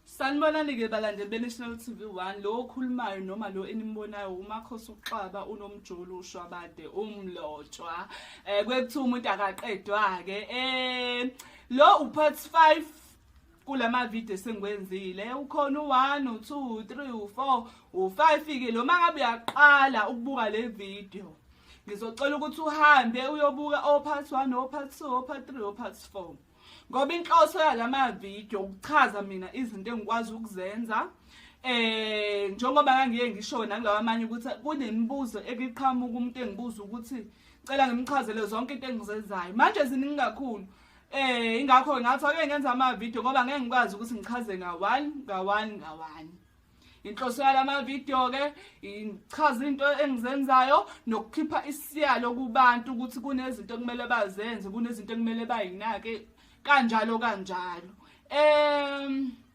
Sanibonani-ke balandeli be-National TV One lo okhulumayo noma lo enimbonayo uMakhosi uXaba unomjolo ushwabade umlotshwa um kwekuthiwa umuntu akaqedwa-ke um lo u-part five kula mavidiyo esengiwenzile ukhona u-one u-two u-three u-four u-five-ke lo uma ngabe uyaqala ukubuka le vidiyo ngizocela ukuthi uhambe uyobuka o-part one o-part two o-part three o-part four ngoba inhloso yala mavidiyo ukuchaza mina izinto engikwazi ukuzenza eh njengoba ngangiye ngisho nanglawa amanye ukuthi kunemibuzo ekiqhamuka umuntu engibuza ukuthi cela ngimchazele zonke into engizenzayo manje ziningi kakhulu Eh ingakho ngathi ake ngenza ama video ngoba ngeke ngikwazi ukuthi ngichaze nga one nga one nga one. Inhloso yalama video ke ichaza into engizenzayo nokukhipha isiyalo kubantu ukuthi kunezinto kumele bazenze, kunezinto kumele bayinake kanjalo kanjalo. Em um,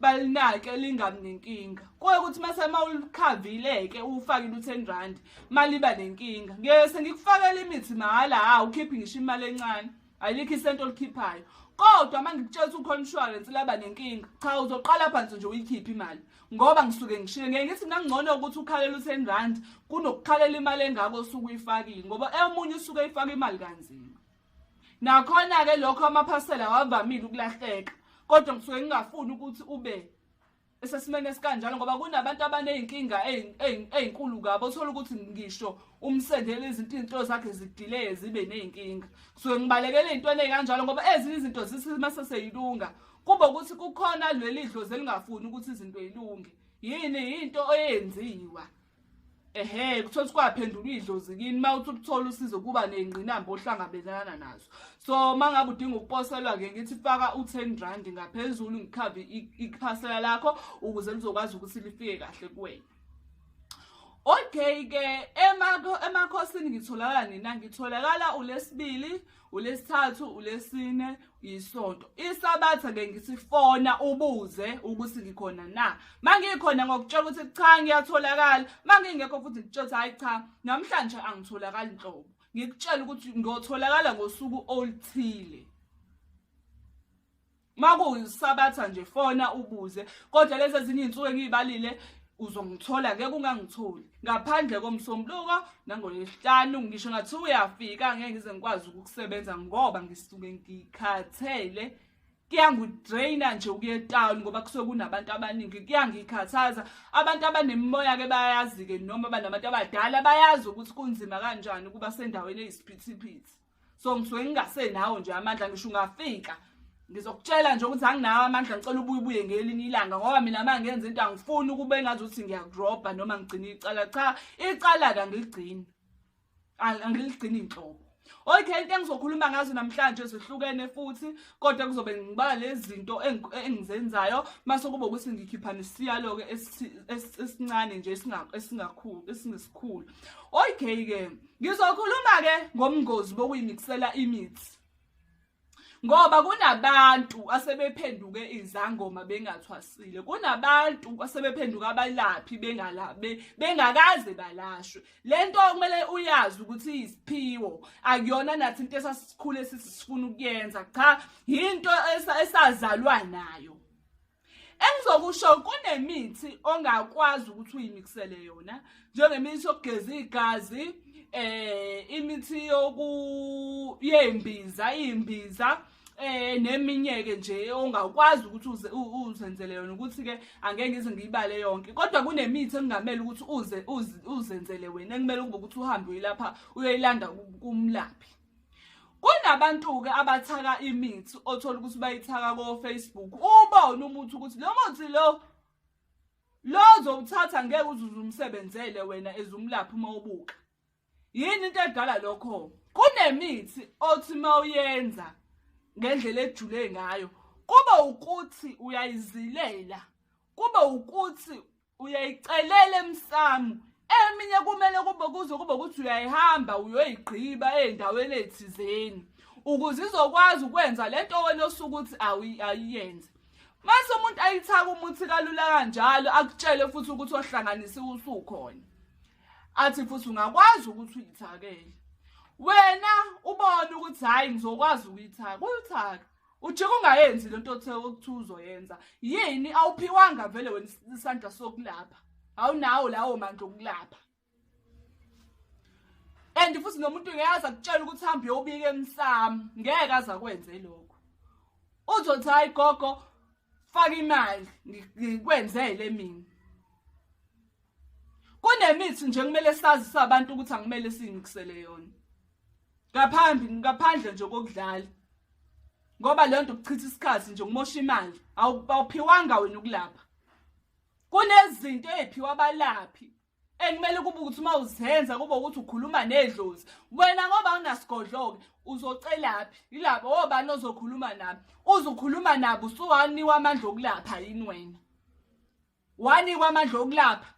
balinake lingabi nenkinga kuye ukuthi mase uma ulikhavile-ke uwufakile u-ten rand maliba nenkinga ngeke sengikufakela imithi mahhala hha ukhiphe ngisho imali encane ayilikho isento olikhiphayo kodwa uma ngikutshela ukuthi ukhona insurance laba nenkinga cha uzoqala phansi nje uyikhiphe imali ngoba ngisuke ngishile ngeke ngithi nangcono ukuthi ukhalela u-ten rand kunokukhalela imali engako osuke uyifakile ngoba eyomunye usuke eyifaka imali kanzima Nakhona-ke lokho amaphasela awavamile ukulahleka kodwa ngisuke ngingafuni ukuthi ube esesimeni esikanjalo ngoba kunabantu abaney'nkinga ey'nkulu kabo othola ukuthi ngisho umsendele izinto iy'nto zakhe zidileye zibe ney'nkinga kusuke ngibalekele ey'ntweni ey'kanjalo ngoba ezinye izinto zisima seseyilunga kube ukuthi kukhona leli dlozi elingafuni ukuthi izinto yilunge yini yinto eyenziwa ehe kuthola ukuthi kwaphendulwa idlozi kini uma uthi ukuthola usizo kuba ney'ngqinamba ohlangabelana nazo so uma ngabe udinga ukuposelwa-ke ngithi faka u-ten rand ngaphezulu ngikhave iphasela lakho ukuze lizokwazi ukuthi lifike kahle kuwena okay-ke emakhosini ngitholakala nina ngitholakala ulesibili ema ulesithathu ulesine yisonto isabatha ke ngisifona ubuze ukuthi ngikhona na mangikhona ngokutshela ukuthi cha ngiyatholakala mangingekho futhi ngitshela ukuthi hayi cha namhlanje angitholakali nhlobo ngikutshela ukuthi ngiyotholakala ngosuku oluthile makuyisabatha nje fona ubuze kodwa lezi ezinye iy'nsuku engiyibalile uzongithola ngeke ungangitholi ngaphandle komsombuluko nangolesihlanu ngisho ngathi uyafika ngeke ngize ngikwazi ukukusebenza ngoba ngisuke ngikhathele kuyangidraina nje ukuya etown ngoba kusuke kunabantu abaningi kuyangikhathaza abantu abanemimoya-ke bayazi-ke noma banabantu abadala bayazi ukuthi kunzima kanjani ukuba sendaweni eyisiphithiphithi so ngisuke ngingasenawo nje amandla ngisho ungafika ngizokutshela nje ukuthi anginawo amandla ngicela ubuye ubuye ngelinye ilanga ngoba mina ma ngenza into angifuni ukube engazi ukuthi ngiyakurobha noma ngigcina icala cha icala-ke angiligcini angiligcini inhlobo okay into engizokhuluma ngazo namhlanje zihlukene futhi kodwa kuzobe ngibala lezinto engizenzayo mase kube ukuthi ngikhipha nesiyalo ke esincane nje esingakhulu esingesikhulu okay ke Ngizokhuluma-ke ngobungozi bokuyimikisela imithi ngoba kunabantu asebephenduke izangoma bengathwasile kunabantu asebephenduka abalaphi bengalabe bengakaze balashwe le nto kumele uyazi ukuthi iyisiphiwo akuyona nathi into esasikhule sisifuna ukuyenza cha yinto esazalwa nayo Engizokusho kunemithi ongakwazi ukuthi uyimixele yona njengemithi yokugeza igazi eh imithi yoku yembiza imbiza eh neminye ke nje ongakwazi ukuthi uzenzele yona ukuthi ke angeke ngize ngiyibale yonke kodwa kunemithi engamele ukuthi uze uzenzele wena ekumele ukuthi uhambe uyilapha uyoyilanda kumlaphi kunabantu-ke abathaka imithi othola ukuthi bayithaka ko-facebook ubone umuthi ukuthi lo muthi lo lo zowuthatha ngeke uzuze umsebenzele wena ezumlaphi uma ubuka yini into edala lokho kunemithi othi uma uyenza ngendlela ejule ngayo kube ukuthi uyayizilela kube ukuthi uyayicelela emsamu eminye kumele kube kuze kube ukuthi uyayihamba uyoyigqiba ezindaweni ezithizeni ukuze izokwazi ukwenza lento wena osuke ukuthi ayiyenze mase umuntu ayithaka umuthi kalula kanjalo akutshele futhi ukuthi ohlanganisiwe usukhona athi futhi ungakwazi ukuthi uyithakele wena ubone ukuthi hhayi ngizokwazi ukuyithaka uyithaka ujike ungayenzi le nto othe okuthiwa uzoyenza yini awuphiwanga vele wena isandla sokulapha awunawo lawo mandla okulapha and futhi nomuntu ngeke aza kutshela ukuthi hambe uyobika emsamo ngeke aza kwenze lokho uzothi hayi gogo faka imali ngikwenzele mina kunemithi nje kumele sazi sabantu ukuthi angimele sinikisele yona ngaphambi ngaphandle nje kokudlala ngoba leyo nto kuchitha isikhathi nje ngimosha imali awuphiwanga wena ukulapha kunezinto eziphiwa abalaphi ekumele kube ukuthi uma uzenza kube ukuthi ukhuluma nedlozi wena ngoba unasigodloke uzocelaphi yilabo obani ozokhuluma nabo uzukhuluma nabo usuwaniwa amandla okulapha yini wena wanikwa amandla okulapha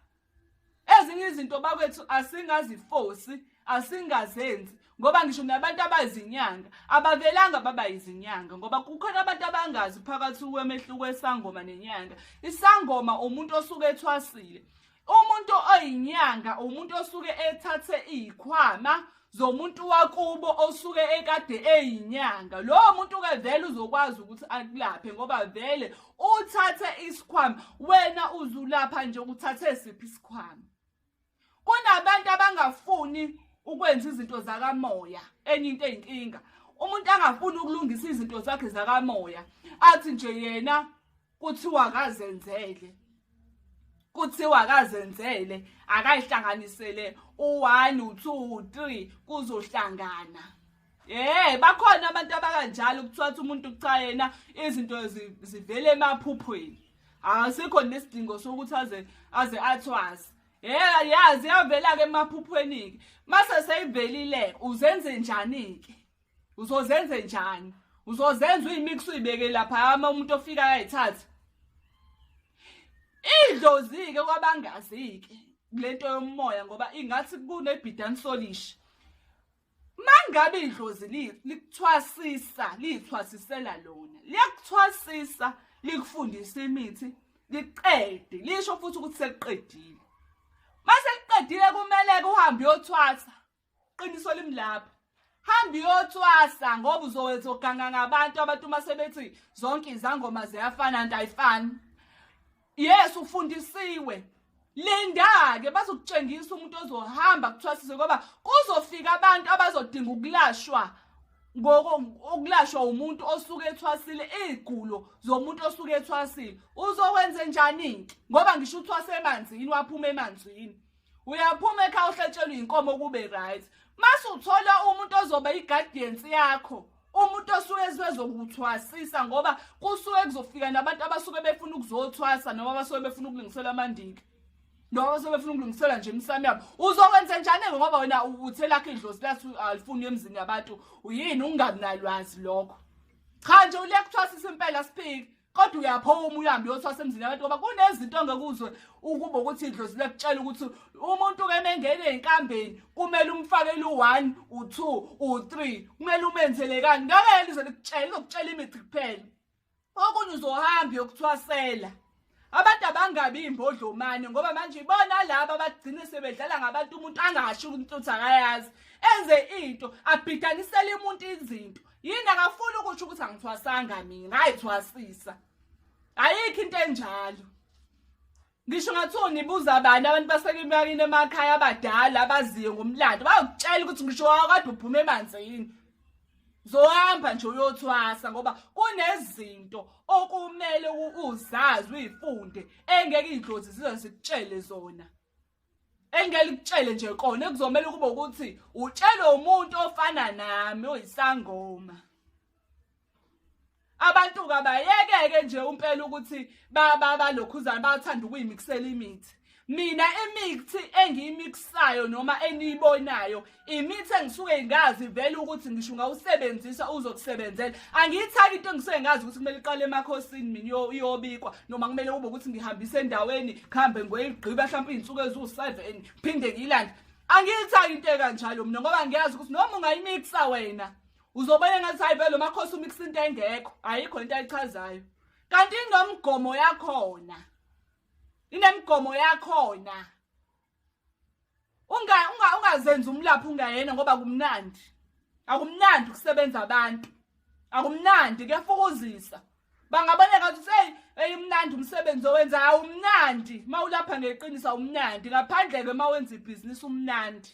ezinye izinto bakwethu asingazifosi asingazenzi ngoba ngisho nabantu abazinyanga abavelanga baba izinyanga ngoba kukhona abantu abangazi phakathi kwemehluko esangoma nenyanga isangoma umuntu osuke ethwasile umuntu oyinyanga umuntu osuke ethathe izikhwama zomuntu wakubo osuke ekade eyinyanga lowo muntu ke vele uzokwazi ukuthi akulaphe ngoba vele uthathe isikhwama wena uzulapha nje uthathe siphi isikhwama kunabantu abangafuni ukwenza izinto zakamoya enye into eyinkinga umuntu angafuni ukulungisa izinto zakhe zakamoya athi nje yena kuthiwa akazenzele kuthiwa akazenzele akayihlanganisele u-one u-two u-three kuzohlangana Eh bakhona abantu abakanjalo kuthiwa ukuthi umuntu cha yena izinto zivele emaphuphweni. Asikho nesidingo sokuthi aze aze athwase. Eh yazi yavela ke emaphuphweni ke. Mase seyivelile uzenze njani ke? uzozenze njani uzozenza uyimix uyibeke lapha ama umuntu ofika ayayithatha idlozike kwabangazike lento yomoya ngoba ingathi kunebhidan solish mangabe idlozi likuthwasisa lithwasisela lona liyakuthwasisa likufundisa imithi liqede lisho futhi ukuthi seliqedile mase liqedile kumele uhambe uyothwasa qiniso limlapha hamba iyothwasa ngoba uzowetha oganga ngabantu abantu uma sebethi zonke izangoma ziyafana nto ayifani yes ufundisiwe linda-ke bazokutshengisa umuntu ozohamba kuthwasise ngoba kuzofika abantu abazodinga ukulashwa ukulashwa umuntu osuke ethwasile iy'gulo zomuntu osuke ethwasile uzokwenze njani-ke ngoba ngisho uthwase emanzini waphuma emanzini uyaphuma ekhaya uhlatshelwe inkomo kube right mase uthola umuntu ozoba i-guardians yakho umuntu osuke ezokuthwasisa ngoba kusuke kuzofika nabantu abasuke befuna ukuzothwasa noma abasuke befuna ukulungisela amandiki noma basuke befuna ukulungisela nje imisamo yabo uzokwenza njani-ke ngoba wena uthe lakho idlozi lathi alifuni emzini yabantu yini ungakunalwazi lokho cha nje ulekuthiwa sisimpela siphiki kodwa uyaphuma uhambe uyothwasa emzini yabantu ngoba kunezinto ongekuzwe ukuba ukuthi idlozi lekutshela ukuthi umuntu ke mengene enkambeni kumele umfakele u1 u2 u3 kumele umenzele kani ngeke yena ize likutshela izokutshela imithi kuphela okunye uzohamba yokuthwasela abantu abangabi imbodlomane ngoba manje ibona laba abagcine sebedlala ngabantu umuntu angasho ukuthi akayazi enze into abhidanisele umuntu izinto yini akafuni ukuthi ukuthi angithwasanga mina ngayithwasisa ayikho into enjalo ngisho ngathiwa nibuza abantu abantu basekimakini emakhaya abadala abaziyo ngomlando bayokutshela ukuthi ngisho wakade uphume emanzini zohamba nje uyothwasa ngoba kunezinto okumele uzazi uyifunde engeke idlozi zize zikutshele zona engelikutshele nje kona kuzomela ukuba ukuthi utshelwe umuntu ofana nami oyisangoma abantu kabayekeke nje umpela ukuthi balokhuzana bathanda ukuyimikisela imithi mina imithi engiyimikisayo noma eniyibonayo imithi engisuke ngazi vele ukuthi ngisho ngawusebenzisa uzokusebenzela angiyithaki into engisuke ngazi ukuthi kumele iqale emakhosini mina iyobikwa noma kumele kube ukuthi ngihambise endaweni kuhambe ngoyigqiba mhlawumbe iy'nsuku eziwu-seven phinde ngiyilande angiyithaki into ekanjalo mina ngoba ngiyazi ukuthi noma ungayimikisa wena uzobona ngathi hayi vele makhosi umikisa into engekho ayikho into ayichazayo kanti inomgomo yakhona inemigomo yakhona unga unga ungazenza umlaphi ungayena ngoba kumnandi akumnandi ukusebenza abantu akumnandi kuyafukuzisa bangabona ngathi uthi hey eyimnandi umsebenzi owenza awumnandi mawulapha ngeqiniso awumnandi ngaphandle ke mawenza ibhizinisi umnandi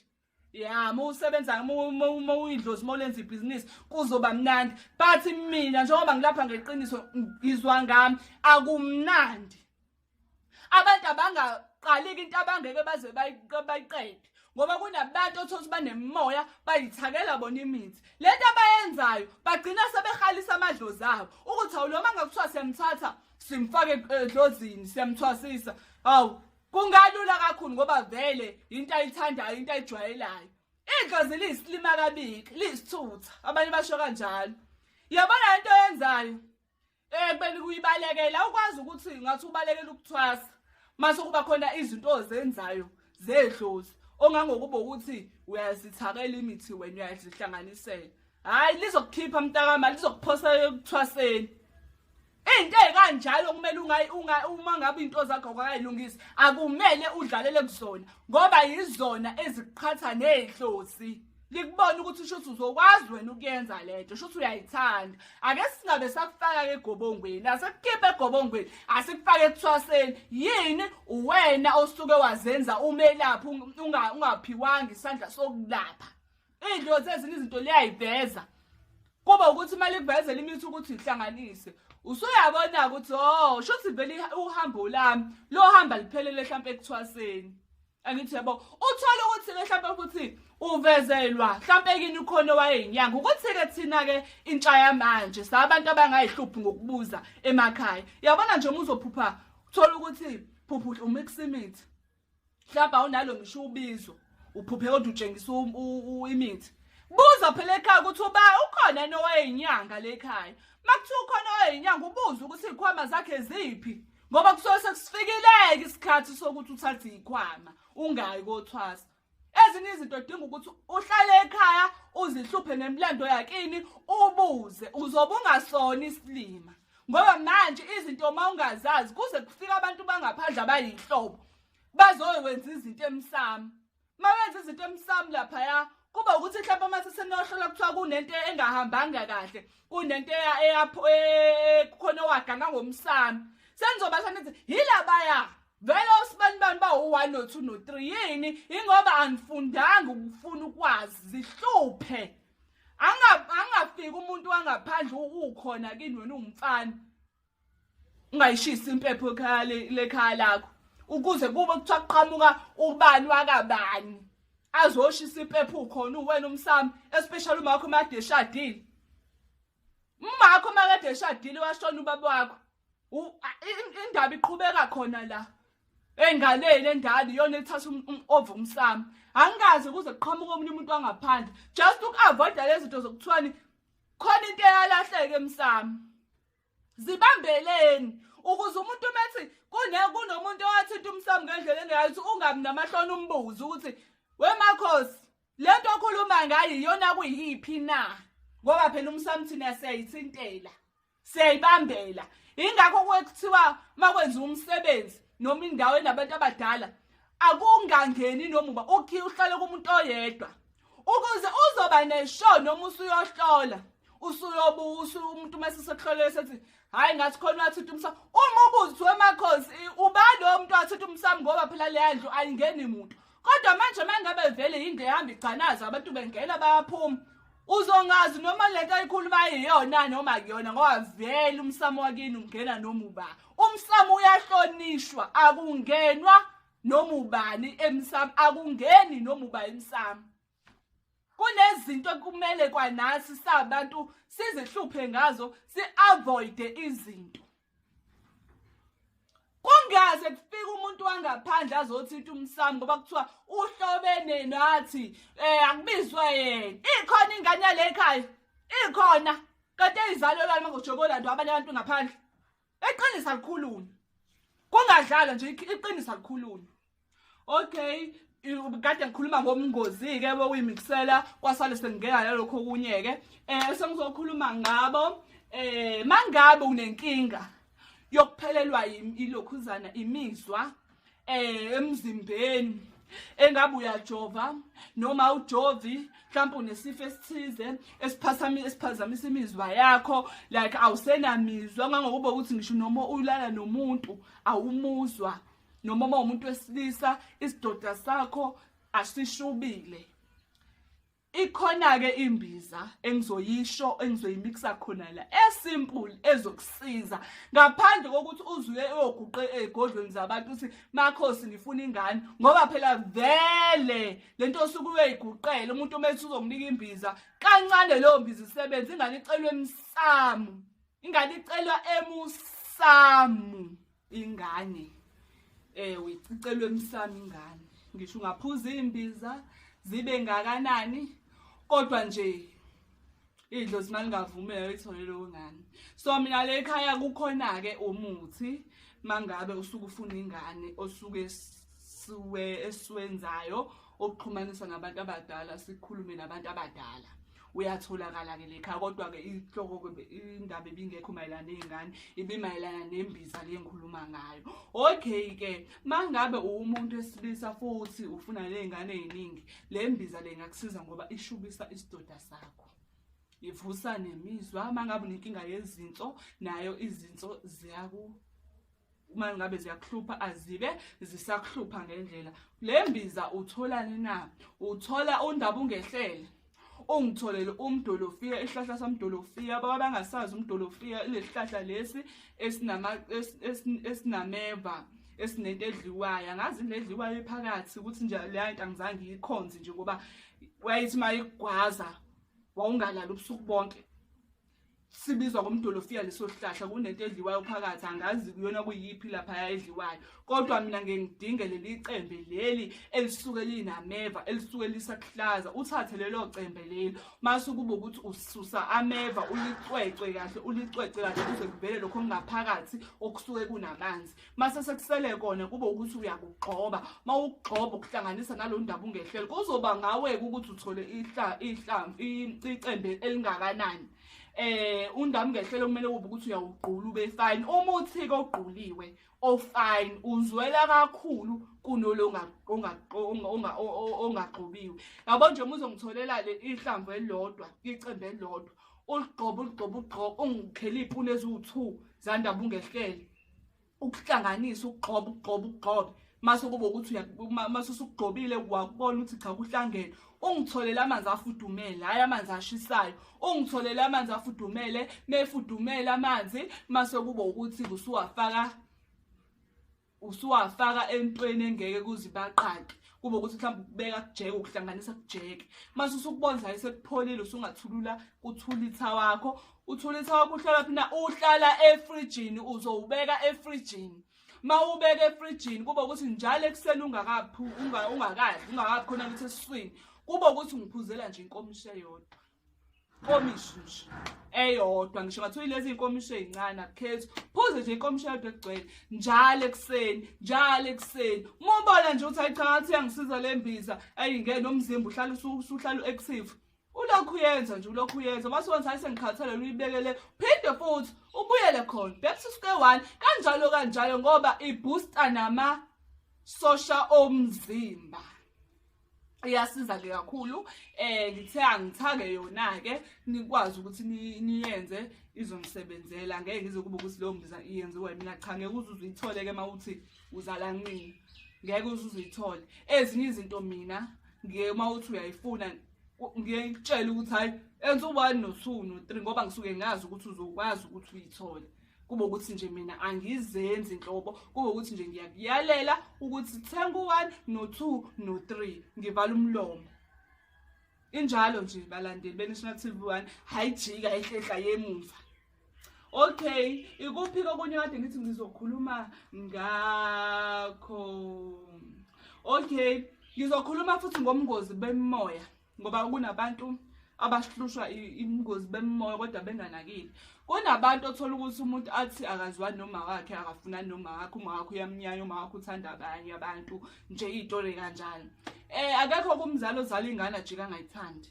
ya uma usebenza uma uyidlozi uma ulenza ibhizinisi kuzoba mnandi but mina njengoba ngilapha ngeqiniso ngizwa ngami akumnandi abantu abangaqaliki into abangeke baze bayiqede ngoba kunabantu othola ukuthi banemoya bayithakela bona imithi le nto abayenzayo bagcina sebehalisa amadlozi abo ukuthi awuloma ngakuthiwa siyamthatha simfake edlozini siyamthwasisa hawu kungalula kakhulu ngoba vele into ayithandayo into ayijwayelayo igazi liyisilima kabiki liyisithutha abanye basho kanjalo yabona into yenzayo eh kubeni kuyibalekela ukwazi ukuthi ngathi ubalekela ukuthwasa mase kuba khona izinto ozenzayo zedlozi ongangokuba ukuthi uyazithakela imithi wena uyazihlanganisela hayi lizokukhipha mntakama lizokuphosa ekuthwaseni Into ekanjalo kumele ungayi unga uma ngabe into zakho akayilungisi akumele udlalele kuzona ngoba yizona eziqhatha nezihlosi likubona ukuthi usho ukuthi uzokwazi wena ukuyenza lento usho ukuthi uyayithanda ake singabe sakufaka ke egobongweni asikukhiphe egobongweni asikufake ekuthwaseni yini uwena osuke wazenza umelaphi ungaphiwanga isandla sokulapha Idlozi ezinye izinto liyayiveza. Kuba ukuthi imali ivezela imithi ukuthi ihlanganise. Usuyabona ukuthi oh shothi vele uhambo lami lo hamba liphelele mhlawumbe ekuthwaseni. Angithi yabo uthola ukuthi ke mhlawumbe ukuthi uvezelwa mhlawumbe kini ukhona wayeyinyanga ukuthi ke thina ke intsha yamanje sabantu abangayihluphi ngokubuza emakhaya. Yabona nje uma uzophupha uthola ukuthi phuphuhle umiximithi. mhlawumbe awunalo ngisho ubizo uphuphe kodwa utshengisa imithi buza phela ekhaya ukuthi uba ukhona yini owayeyinyanga le khaya uma kuthiwa ukhona owayeyinyanga ubuze ukuthi iy'khwama zakhe ziphi ngoba kusuke sekusifikileke isikhathi sokuthi uthathe iy'khwama ungayi kothwasa ezinye izinto odinga ukuthi uhlale ekhaya uzihluphe nemlando yakini ubuze uzobe ungasona isilima ngoba manje izinto uma ungazazi kuze kufika abantu bangaphandle abayinhlobo bazoyokwenza izinto emsamo uma wenza izinto emsamo laphaya kuba ukuthi mhlawumbe uma sesenohlola kuthiwa kunento engahambanga kahle kunento e, kukhona owagana ngomsamo senizoba sanithi yilabaya vele osibani bani bawu-one no-two no-three yini ingoba angifundanga ukufuna ukwazi zihluphe angafiki umuntu wangaphandle ukhona kini wena ungumfana ungayishisi impepho lekhaya lakho ukuze kube kuthiwa kuqhamuka ubani wakabani azoshisa impepho ukhona uwena umsami especially umakho makade eshadile umakho makade eshadile washona ubaba wakho indaba iqhubeka khona la engaleni endala iyona ethatha um, um, ova umsamo angikaze kuze kuqhamuka omunye umuntu wangaphandle just uku-avoida lezi zinto zokuthiwani khona into eyalahleke emsamo zibambeleni ukuze umuntu umethi kunomuntu owathinta umsamo ngendlela engayithi ungabi namahloni umbuze ukuthi wemakhosi le nto okhuluma ngayo iyona kuyiphi na ngoba phela umsamo thina siyayithintela siyayibambela ingakho kwekuthiwa makwenza umsebenzi noma indawo enabantu abadala akungangeni nomuba ukhi uhlale kumuntu oyedwa ukuze uzoba nesho noma usuyohlola usuyobusa umuntu uma sesekuhlolele sethi hhayi ngathi khona wathutha umsamo uma ubuzi kuthiwa emakhosi ubani owo muntu wathutha umsamo ngoba phela leya ndlu ayingeni muntu kodwa manje uma ngabe vele yinto ehamba igcanaza abantu bengena bayaphuma uzongazi noma lento ayikhuluma iyona noma kuyona ngoba vele umsamo wakini ungena noma uba umsamo uyahlonishwa akungenwa noma ubani emsamo akungeni noma uba emsamo kunezinto ekumele kwanasi sabantu sizihluphe ngazo si-avoide izinto kungaze kufike umuntu wangaphandle azothi uthi umsami ngoba kuthiwa uhlobene nathi um akubizwe yena ikhona ingane yale ekhaya ikhona kanti eyizalelwa noma ngojobolando abanye abantu ngaphandle eqinisa likhuluni kungadlalwa nje iqinisa likhuluni okay kade ngikhuluma ngobungozi-ke bokuyimiksela kwasale sengingena nalokho okunye-ke um eh, sengizokhuluma ngabo um eh, mangabe unenkinga yokuphelelwa ilokhuzana imizwa um emzimbeni engabe uyajova noma ujovi mhlawumbe unesifo esithize esiphazamisa imizwa yakho like awusenamizwa ngangokuba ukuthi ngisho noma ulala nomuntu awumuzwa noma uma umuntu wesilisa isidoda sakho asishubile ikhona-ke imbiza engizoyisho engizoyimikisa khona la esimple ezokusiza ngaphandle kokuthi uzuye uyoguqe ey'godlweni zabantu ukuthi makhosi ngifuna ingane ngoba phela vele le nto osuke uyoyiguqela umuntu uma ethi uzokunika imbiza kancane leyo mbiza isebenza ingane icelwa emsamu ingane icelwa emusamu ingane eh uyicicelwe emsami ingane ngisho ungaphuza imbiza zibe ngakanani kodwa nje idlo simali ngavumela uyithole lowo ngane so mina le ekhaya kukhona ke umuthi mangabe usuke ufuna ingane osuke suwe esiwenzayo okuxhumanisa ngabantu abadala sikhulume nabantu abadala uyatholakala-ke lekha kodwa-ke inhloko indaba ebingekho mayelana ney'ngane ibimayelana nembiza le ngikhuluma ngayo okay-ke ma ngabe uwumuntu esilisa futhi ufuna ley'ngane ey'ningi le mbiza le ngakusiza ngoba ishubisa isidoda sakho ivusa nemizwa uma ngabe unenkinga yezinso nayo izinso ziyaku uma ngabe ziyakuhlupha azibe zisakuhlupha ngendlela le mbiza utholani na uthola undaba ungehlele ungitholele umdolofiya isihlahla samdolofiya baba bangasazi umdolofiya ilesihlahla lesi esinama esinameva es, es, esinento edliwayo angazi into edliwayo ephakathi ukuthi nje leya nto angizange iyikhonze nje ngoba wayethi uma igwaza wawungalali ubusuku bonke sibizwa ngomdolofiya leso sihlahla kunento edliwayo phakathi angazi kuyona kuyiphi laphaya edliwayo kodwa mina ngeke ngidinge leli cembe leli elisuke linameva elisuke lisakuhlaza uthathe lelo cembe leli mase kuba ukuthi ususa ameva ulicwecwe kahle ulicwece kahle kuze kuvele lokho kungaphakathi okusuke kunamanzi mase sekusele kona kube ukuthi uyakugxoba uma ukugxoba ukuhlanganisa nalo ndaba ungehlele kuzoba ngawe-ke ukuthi uthole ihlamvu icembe elingakanani eh undami ngehlelo kumele kube ukuthi uyawugqula ube fine uma uthike ogquliwe ofine uzwela kakhulu kunolo ongagxobiwe yabo nje uma uzongitholela le ihlamvu elilodwa icembe elilodwa uligxoba uligxoba ugxoba ungikheliphi uneziwu-two zandaba ungehlele ukuhlanganisa ukugxoba ukugxoba ukugxoba mase kube ukuthi mase usugxobile wakubona ukuthi cha kuhlangene ungitholele amanzi afudumele hayi amanzi ashisayo ungitholele amanzi afudumele mefudumele amanzi mase kube ukuthi usuwafaka usuwafaka entweni engeke kuze baqaqe kube ukuthi mhlawumbe ukubeka kujeke ukuhlanganisa kujeke mase usukubonzayo sekupholile usungathulula kuthulitha wakho uthulisa wakho uhlala phina uhlala efrijini uzowubeka efrijini mawubeka efrijini kuba ukuthi njalo ekuseni ungakaphu ungakadli ungakaphi khona ukuthi esiswini kuba ukuthi ngiphuzela nje inkomishi eyodwa inkomishi nje eyodwa ngisho ngathi uyilezi inkomishi ezincane akukhethi phuze nje inkomishi eyodwa egcwele njalo ekuseni njalo ekuseni mubona nje ukuthi ayichathi yangisiza lembiza ayingene nomzimba uhlala usuhlala u-active ulokhu uyenza nje ulokhu uyenza uma siwenza hayi sengikhathele luyibekele phinde futhi ubuyele khona back to square one kanjalo kanjalo ngoba ibooster nama sosha omzimba iyasiza-ke kakhulu um eh, ngithe angithake yona-ke nikwazi ukuthi niyenze izongisebenzela ngeke ngize kube ukuthi leyo mbiza iyenziwe mina cha ngeke uze uzuyithole-ke uma uthi uzala nqina ngeke uze uzithole ezinye izinto mina ngeke uma uthi uyayifuna ngiye ngitshele ukuthi hhayi enza u-one no-two no-three ngoba ngisuke ngazi ukuthi uzokwazi ukuthi uyithole kube ukuthi nje mina angizenzi nhlobo kube ukuthi nje ngiyakuyalela ukuthi thenga u-one no-two no-three ngivala umlomo injalo nje balandeli beNational TV 1 hayijika ehlehla yemuva okay ikuphi kokunye kade ngithi ngizokhuluma ngakho okay ngizokhuluma futhi ngomngozi bemoya ngoba kunabantu abahlushwa ingozi bemoya kodwa benganakile kunabantu othola ukuthi umuntu athi akaziwa noma wakhe akafuna noma wakhe uma wakhe uyamnyanya uma wakhe uthanda abanye abantu nje iy'tole kanjalo um akekho kumzali ozala ingane ajike angayithandi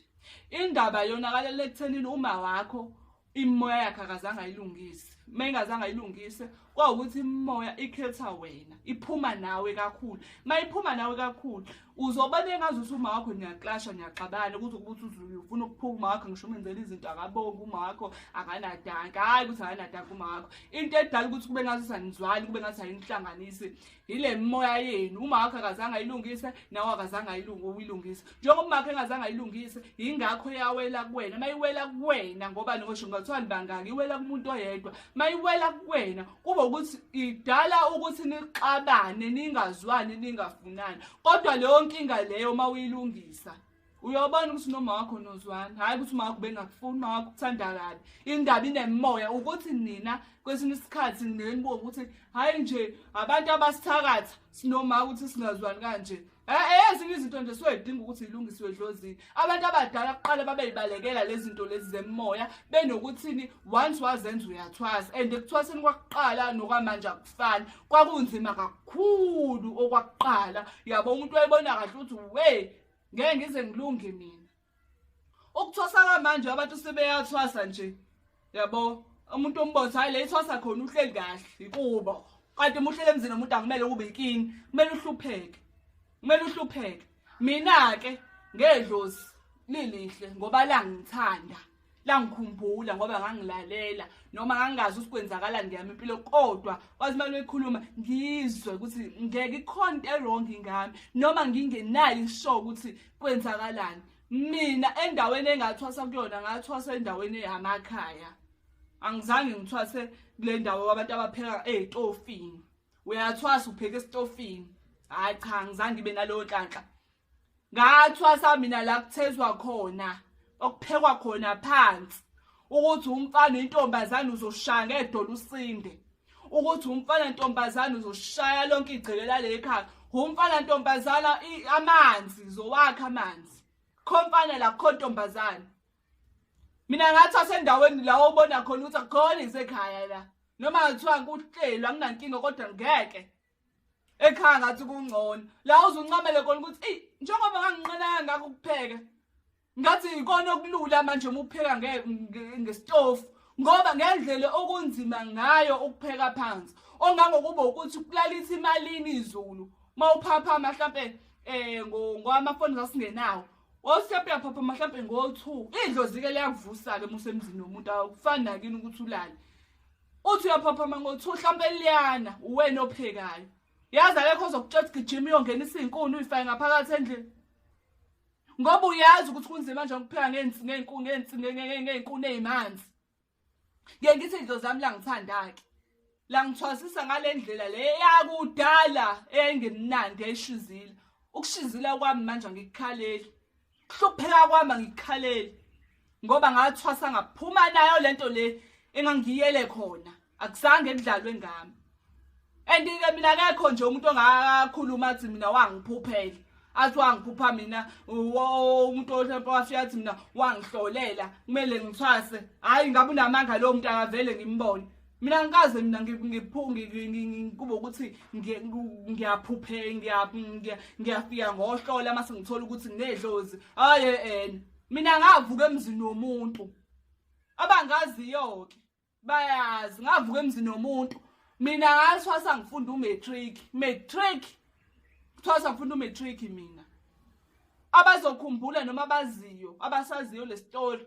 indaba yonakalela ekuthenini uma wakho imoya yakhe akazange ayilungise uma ingazange ayilungise kwawukuthi imoya ikhetha wena iphuma nawe kakhulu uma iphuma nawe kakhulu uzobona engazi ukuthi uma wakho niyaklasha niyaxabana kuze ukuthi uzufuna ukuphuka uma wakho ngisho umenzela izinto akabongi uma wakho akanadanka hhayi ukuthi akanadanka uma wakho into edala ukuthi kube ngathi sanizwani kube ngathi ayinihlanganisi yile mimoya yenu umakho akazange ayilungise nawe akazange uyilungise njengoba umakho engazange ayilungise yingakho yawela kuwena uma iwela kuwena ngoba nokosho ngathiwani bangaki iwela kumuntu oyedwa uma iwela kuwena kuba ukuthi idala ukuthi nixabane ningazwani ningafunani kodwa leyo nkinga leyo uma uyilungisa uyabona ukuthi noma wakho nozwana hhayi ukuthi uma wakho bengakufuni uma wakho kuthanda kabi indaba inemoya ukuthi nina kwesinye isikhathi nenibuka ukuthi hhayi nje abantu abasithakatha sinoma ukuthi singazwani kanje ezinye izinto nje siwedinga ukuthi zilungisiwe edlozini abantu abadala kuqala babeyibalekela lezi zinto lezi zemoya benokuthini once wazenza uyathwasa and ekuthwaseni kwakuqala nokwamanje akufani kwakunzima kakhulu okwakuqala yabo umuntu wayebona kahle ukuthi we ngeke ngize ngilunge mina ukuthwasa kamanje abantu sebeyathwasa nje yabo umuntu ombotho hayi le ithwasa khona uhleli kahle ikubo kanti muhlele emzini omuntu akumele kube ikini kumele uhlupheke kumele uhlupheke mina ke ngedlozi lilihle ngoba langithanda langikhumbula ngoba ngangilalela noma ngangingazi ukuthi kwenzakalani ngeyami impilo kodwa kwazi imali ekhuluma ngizwe ukuthi ngeke ikhona into erong ngami noma ngingenayo isho ukuthi kwenzakalani mina endaweni engathwasa kuyona ngathwasa endaweni yamakhaya angizange ngithwase kule ndawo abantu abapheka ey'tofini uyathwasa upheka esitofini hhayi cha ngizange ibe nalowo nhlanhla ngathwasa mina la kuthezwa khona okuphekwa khona phansi ukuthi umfana intombazane uzoshaya ngedolo usinde ukuthi umfana ntombazane uzoshaya lonke igceke lale khaya umfana ntombazana amanzi zowakha amanzi khomfana la kho ntombazana mina ngathi asendaweni la obona khona ukuthi akukhona isekhaya la noma ngathiwa kuhlelwa nginankinga kodwa ngeke ekhaya ngathi kungcono la uzuncamele khona ukuthi eyi njengoba nganginqenaka ngakho ukupheka ngathi yikona okulula manje uma upheka ngesitofu ngoba ngendlela okunzima ngayo ukupheka phansi ongangokuba ukuthi kulalisa imalini izulu uma uphaphama mhlampe um ngowamafoni sasingenawo wawusepe yaphaphama mhlampe ngo-two idlozi-ke liyakuvusa-ke uma usemzini womuntu akufani nakini ukuthi ulale uthi uyaphaphama ngo-two hlampe liyana uwena ophekayo yazi akekho ozokutshela ukuthi gijima uyongena isinkuni uyifake ngaphakathi endlini ngoba uyazi ukuthi kunzima nje ukupheka ngey'nkuni ey'manzi ngiye ngithi ndlo zami langithanda-ke langithwasisa ngale ndlela le yakudala eyayingemnandi yayishizile ukushizila kwami manje angikukhaleli Kuhlupheka kwami ngikhaleli ngoba ngathwasa ngaphuma nayo lento le engangiyele khona akuzange emdlalwe ngami and ke mina akekho nje umuntu ongakhuluma athi mina wangiphuphela athi wangiphupha mina umuntu ohlompe wafika athi mina wangihlolela kumele ngithwase hhayi ngabe unamanga lowo muntu akavele ngimbone mina ngikaze mina ngikubo ukuthi ngiyaphuphe ngiyafika ngohlola uma sengithola ukuthi nginedlozi hhayi ena mina ngavuka emzini womuntu abangaziyo-ke bayazi ngavuka emzini womuntu mina ngathwasa ngifunda umatric matric thwasa ngifunda umatric mina abazokhumbula noma abaziyo abasaziyo le story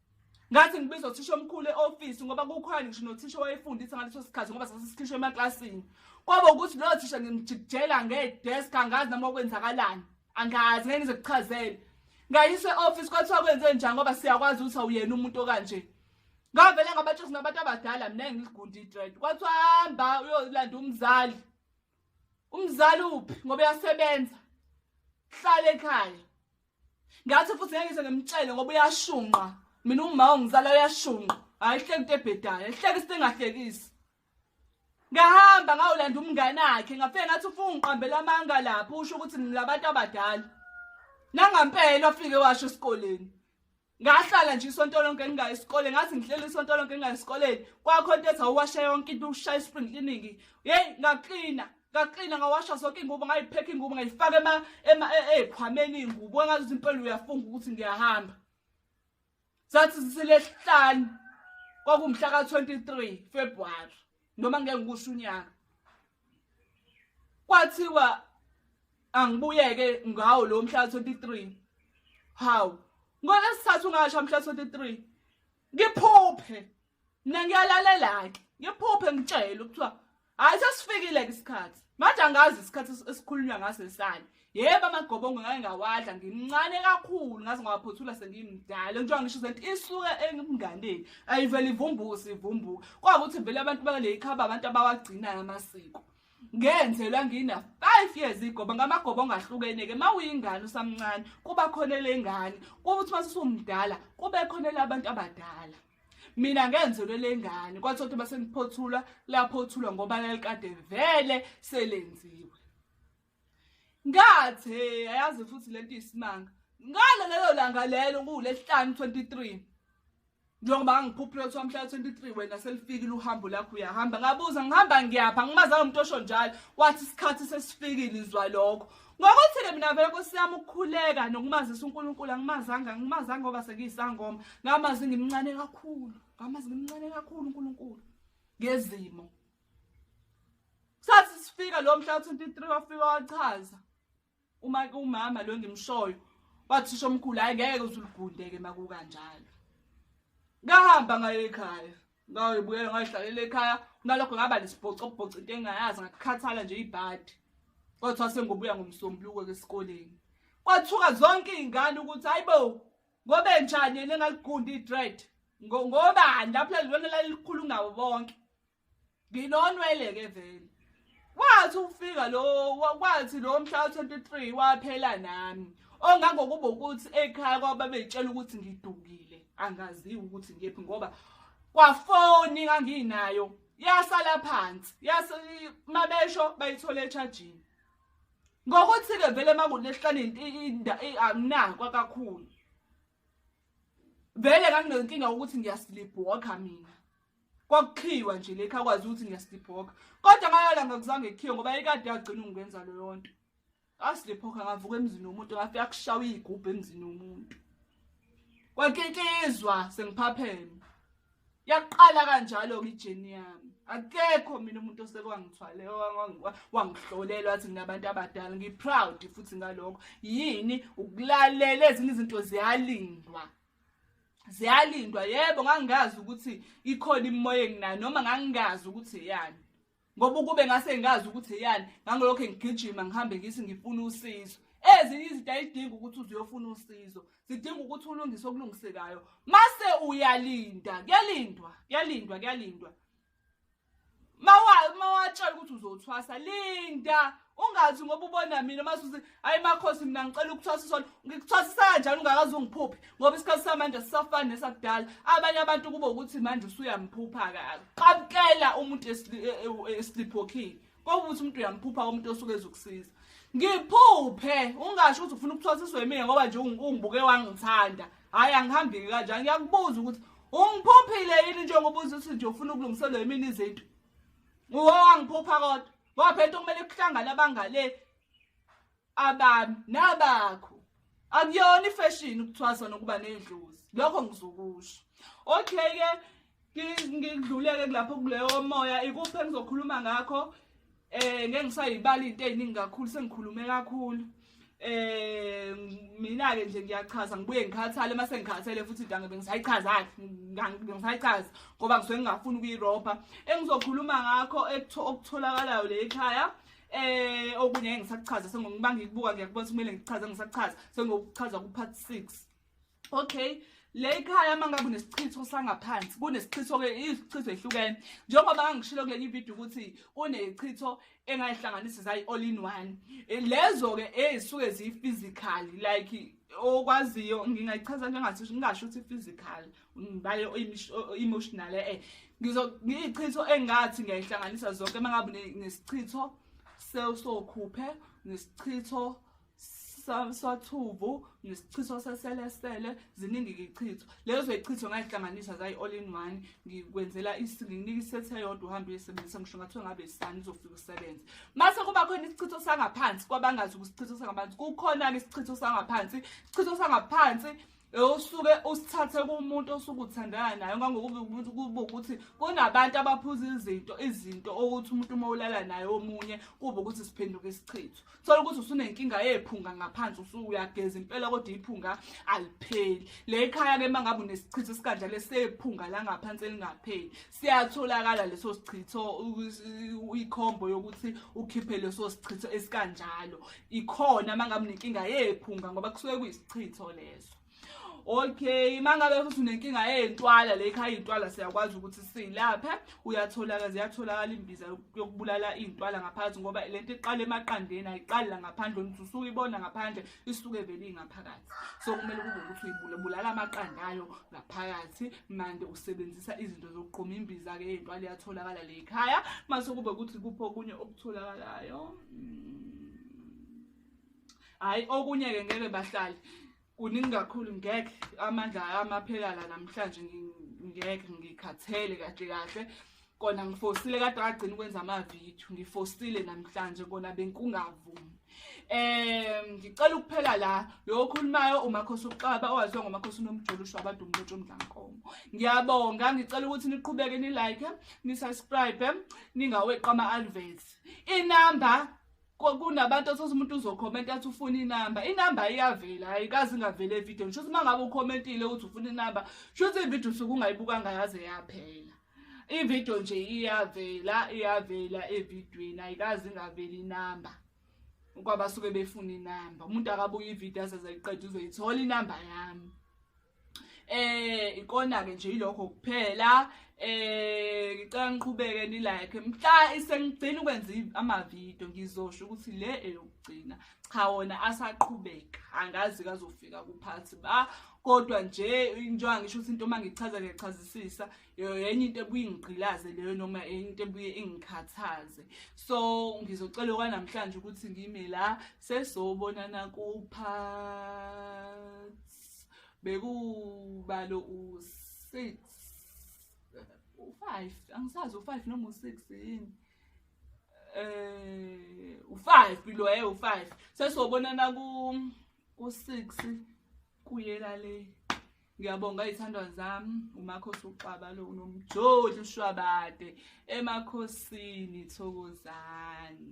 ngathi ngibiza uthisha omkhulu e-ofisi ngoba kukhona ngisho nothisha owayefundisa ngaleso sikhathi ngoba sasisikhishwe emaklasini kwaba ukuthi loyo thisha ngimjikijela ngedesk angazi noma okwenzakalani angazi ngeke ngize kuchazele ngayise e-ofisi kwathiwa kwenze njani ngoba siyakwazi ukuthi awuyena umuntu okanje ngavele ngabatshisa nabantu abadala mina ngiligundi idred kwathiwa hamba uyolanda umzali umzali uphi ngoba uyasebenza hlale ekhaya ngathi futhi ngeke ngize ngimtshele ngoba uyashunqa mina umma ongizala uyashunqa hayi hleki into ebhedayo hleki isinto engahlekisi ngahamba ngawulanda umngane wakhe ngafike ngathi ufuna ungiqambela amanga lapho usho ukuthi ngilabantu abadala nangampela ofike washo esikoleni ngahlala nje isonto lonke ngingayi esikoleni ngathi ngihlela isonto lonke ngingayi esikoleni kwakho into ethi awuwasha yonke into ushaya i-spring cleaning yeyi ngaklina ngaklina ngawasha zonke iy'ngubo ngayiphekha iy'ngubo ngayifaka ey'khwameni iy'ngubo engazuthi impela uyafunga ukuthi ngiyahamba zathi ziselehlanu kwakumhla ka-23 februwari noma ngeke ngikusho unyaka kwathiwa angibuyeke ngawo lo mhla 23 hawu ngolesithathu ngasha mhla 23 ngiphuphe mina ngiyalalela ke ngiphuphe ngitshele ukuthiwa hayi sesifikile ke isikhathi manje angazi isikhathi esikhulunywa ngaso isani yebo amagobongo ngake ngawadla ngimncane kakhulu ngaze ngawaphothula sengimdala njengoba ngisho senti isuke emnganeni ayivele ivumbusa ivumbuka kwakuthi vele abantu bakuleli khaba abantu abawagcinayo amasiko ngenzelwa ngina 5 years igoba ngamagoba ongahlukene ke mawuyingane usamncane kuba khona lengane kuthi masisumdala kube khona labantu abadala mina ngenzelwe lengane kwathi ukuthi basengiphothula laphothulwa ngoba lalikade vele selenziwe ngathi hey ayazi futhi lento isimanga ngalo lelo langa lelo kuwulesihlanu 23 njengoba ngikhuphule kuthiwa mhla 23 wena selifikile uhambo lakho uyahamba ngabuza ngihamba ngiyapha ngimazanga umuntu osho njalo wathi isikhathi sesifikile izwa lokho ngokuthi-ke mina vele nkosi yami ukukhuleka nokumazisa unkulunkulu angimazanga angimazanga ngoba sengiyisangoma ngamazi ngimncane kakhulu ngamazi ngimncane kakhulu unkulunkulu ngezimo sathi sifika lo mhla 23 wafika wachaza uma umama lo ngimshoyo wathisha omkhulu hayi ngeke uzulugundeke makukanjalo ngahamba ngaye ekhaya ngayibuyela ngayihlalela ekhaya kunalokho ngaba nesibhocobhoco into engayazi ngakukhathala nje ibhadi kodwa sengobuya ngomsombuluko esikoleni kwathuka zonke izingane ukuthi hayibo ngobe njani yena engaligundi idread ngobani lapho lelona lalikhulu ngawo bonke nginonwele ke vele wathi ufika lo wathi lo mhla 23 waphela nami ongangokuba ukuthi ekhaya kwaba betshela ukuthi ngidukile angaziwa ukuthi ngephi ngoba kwafoni nganginayo yasala phansi yase mabesho bayithola echajini ngokuthi ke vele makunehlane intinda anginakwa kakhulu vele nganginenkinga ukuthi ngiyasilibhoka mina kwakuqhiwa nje lekha kwazi ukuthi ngiyasiphoka kodwa ngayala ngakuzange kukhiwe ngoba ikade yagcina ungenza leyo nto asiliphoka ngavuka emzini womuntu ngafika kushawa igubhu emzini womuntu kwakikizwa sengiphapheme yaqala kanjalo ke ijeni yami akekho mina umuntu osekwangithwale wangihlolela wathi nginabantu abadala ngiproud futhi ngalokho yini ukulalela ezinye izinto ziyalingwa ziyalindwa yebo ngangingazi ukuthi ikhona imimoya enginayo noma ngangingazi ukuthi eyani ngoba ukube ngase ngazi ukuthi eyani ngangilokho ngigijima ngihambe ngisi ngifuna usizo ezinye izinto ayidingi ukuthi uzuyofuna usizo zidinga ukuthi ulungise okulungisekayo mase uyalinda kuyalindwa kuyalindwa kuyalindwa mawatshela ukuthi uzothwasa linda ungathi ngoba ubona mina masuthi hayi makhosi mina ngicela ukuthwasiswa ngikuthwasisa kanjani ungakaze ungiphuphe ngoba isikhathi samanje sisafani nesakudala abanye abantu kube ukuthi manje usuyamphupha kaka qabukela umuntu esiliphokhile e, e, kokuthi umuntu uyamphupha komuntu osuke ezokusiza ngiphuphe ungasho ukuthi ufuna ukuthwasiswa yimina ngoba nje ungibuke wangithanda hhayi angihambiki kanjani ngiyakubuza ukuthi ungiphuphile yini njengoba uze uthi nje ufuna ukulungiselwa yimina izinto uwo wangiphupha kodwa ngoba phela into kumele kuhlangane abangale abami nabakho akuyona ifashion ukuthwasa nokuba nedlozi lokho ngizokusho okay ke ngidluleke kulapho kuleyo moya ikuphi engizokhuluma ngakho eh ngeke ngisayibala into eziningi kakhulu sengikhulume kakhulu eh mina ke nje ngiyachaza ngibuye ngikhathale mase ngikhathele futhi dange bengisayichaza ngisayichaza ngoba ngisuke ngingafuni ukuyirobha engizokhuluma ngakho okutholakalayo le ekhaya Eh okunye ngeke ngisakuchaza sengokuba ngikubuka ngiyakubona ukuthi kumele ngichaze ngisakuchaza sengokuchaza ku part 6. Okay. Le ikhaya manga kunesichitho sangaphansi kunesichitho ke izichitho ehlukene njengoba ngangishilo kule video ukuthi kunechitho engayihlanganisa zayi all in one eh, lezo ke ezisuke eh, ziyi physical like okwaziyo ngingayichaza njengathi ngingasho ukuthi physical ngibale emotional eh, eh ngizo ngiyichitho engathi ngiyayihlanganisa zonke mangabe nesichitho sesokhuphe nesichitho sathuvu nesichitho seselesele ziningi ichitho lezo ichitho ngayihlanganisa zayi all in one ngikwenzela isinika isethe yodwa uhambe uyisebenzisa ngisho ngathiwa ngabe isani uzofika usebenze mase kuba khona isichitho sangaphansi kwabangazi ukusichitho sangaphansi kukhona-ke isichitho sangaphansi isichitho sangaphansi usuke usithathe kumuntu osuke uthandana naye ngangokuba umuntu kuba ukuthi kunabantu abaphuza izinto izinto okuthi umuntu uma ulala naye omunye kuba ukuthi siphenduke isichitho thola ukuthi usunenkinga yephunga ngaphansi usuke uyageza impela kodwa iphunga alipheli le khaya ke mangabe unesichitho sikanjalo sephunga la ngaphansi elingapheli siyatholakala leso sichitho ikhombo yokuthi ukhiphe leso sichitho esikanjalo ikhona uma ngabe unenkinga yephunga ngoba kusuke kuyisichitho leso okay mangabe futhi unenkinga yeyintwala le khaya intwala siyakwazi ukuthi silaphe uyatholaka ziyatholakala imbiza yokubulala iyintwala ngaphansi ngoba lento iqala emaqandeni ayiqali la ngaphandle umuntu usuke ibona ngaphandle isuke vele ingaphakathi so kumele kube ukuthi uyibulala amaqanda ayo ngaphakathi mande usebenzisa izinto zokuqoma imbiza ke into aliyatholakala le ekhaya mase kube ukuthi kupho okunye okutholakalayo mm. hayi okunye ke ngeke bahlali kuningi kakhulu ngeke amandla amaphelala namhlanje ngeke ngikhathele kahle kahle kona ngifosile kade ngagcina ukwenza amavidiyo ngifosile namhlanje kona benkungavumi um ngicela ukuphela la lo okhulumayo umakhosi uxaba owaziwa ngomakhosi unomjolo usho abantu umlotsho omdlankomo ngiyabonga ngicela ukuthi niqhubeke nilike nisubscribe ningaweqa ama-alvets inamba kunabantu athoza umuntu uzokhomenta athi ufuna inamba inamba iyavela ayikazi ingavela evideo ngisho ukuthi uma ngabe ukhomentile ukuthi ufuna inamba sho ukuthi ividiyo usuke ungayibukanga yaze yaphela ividiyo nje iyavela iyavela evidweni ayikazi ingaveli inamba kwaba suke befuna inamba umuntu akabuye ividiyo asezayiqeda uzoyithola inamba yami eh ikona ke nje ilokho kuphela eh ngicela ngiqhubeke ni like mhla isengigcina ukwenza ama video ngizosho ukuthi le eyokugcina cha wona asaqhubeka angazi kazofika kuphathi ba kodwa nje njengoba ngisho ukuthi into uma ngichaza ngiyachazisisa yenye into ebuye ingigqilaze leyo noma enye into ebuye ingikhathaze so ngizocela kwanamhlanje ukuthi ngime la sesobonana kuphathi bekubalo u-six u-five angisazi u-five noma u-six yini eh u5 below eh u5 sesobonana ku ku6 kuyela le ngiyabonga izithandwa zami umakhosi uxaba lo unomjoli ushwabade emakhosini thokozani